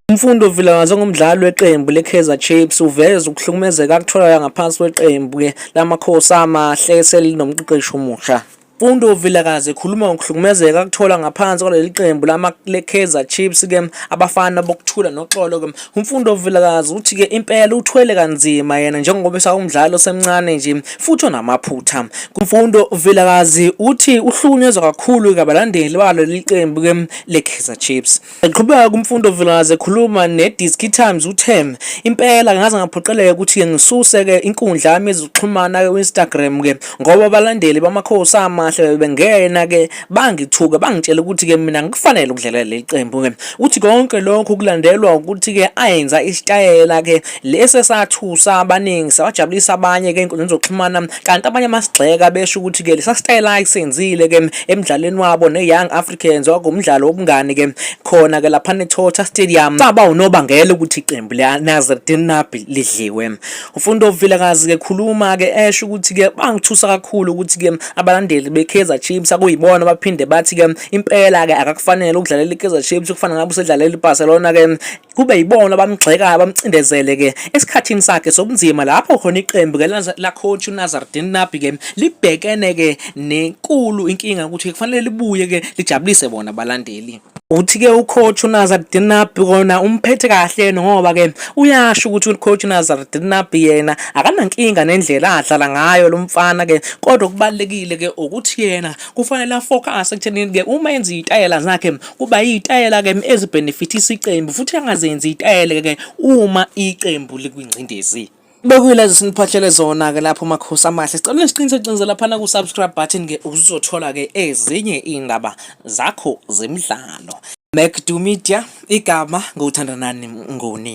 Mfundo Vilakazi ongumdlali weqembu leKaizer Chiefs uveza ukuhlukumezeka akutholakala ngaphansi kweqembu ke lamakhosi amahle eselinomqeqeshi omusha. Mfundo Vilakazi ekhuluma ngokuhlukumezeka akuthola ngaphansi kwaleli qembu lama leKaizer Chiefs ke abafana bokuthula noxolo ke Umfundo Vilakazi uthi ke impela uthwele kanzima yena njengoba esawumdlali osemncane nje futhi onamaphutha. Kumfundo Vilakazi uthi uhlukunyezwa kakhulu kabalandeli balo liqembu ke leKaizer Chiefs. Eqhubeka kumfundo Vilakazi ekhuluma neDisk Times uthe impela ngaze ngaphoqeleka ukuthi ke ngisuse ke inkundla yami yezokuxhumana ke Instagram ke ngoba abalandeli bamakhosi amahle bebengena ke bangithuka bangitshela ukuthi ke mina ngikufanele ukudlalela leli qembu ke uthi konke lokho kulandelwa ukuthi ke ayenza isitayela ke lesi esathusa abaningi sabajabulisa abanye ke inkundla zokuxhumana kanti abanye amasigxeka besho ukuthi ke lesa sitayela ayisenzile ke emdlalweni wabo neYoung Africans wakumdlalo wobungani ke khona ke lapha neThotha Stadium saba unobangela ukuthi iqembu leNasreddin Nabi lidliwe Ufundo Vilakazi ke khuluma ke esho ukuthi ke bangithusa kakhulu ukuthi ke abalandeli beKaizer Chiefs akuyibona baphinde bathi ke impela ke akakufanele ukudlalela iKaizer Chiefs kufana ngabe usedlalela iBarcelona ke kube yibona abamgxekayo bamcindezele ke esikhathini sakhe sobunzima lapho khona iqembu ke la coach uNazardin Nabi ke libhekene ke nenkulu inkinga ukuthi kufanele libuye ke lijabulise bona abalandeli Uthi-ke ucoach uNazardine Nabi kona umphethe kahle yena ngoba ke uyasho ukuthi ucoach uNazardine Nabi yena akanankinga nendlela adlala ngayo lo mfana ke kodwa okubalulekile ke ukuthi yena kufanele afocus ekuthenini ke uma enza izitayela zakhe kuba izitayela ke ezibhenefithisa iqembu futhi angazenzi izitayela ke uma iqembu likwingcindezi. Bekuyilezo siniphahlele zona-ke lapho makhosi amahle sicela nisiqinise qinise laphana ku-subscribe button-ke uzothola-ke ezinye iy'ndaba zakho zemidlalo macdu media igama ngokuthandanani ngoni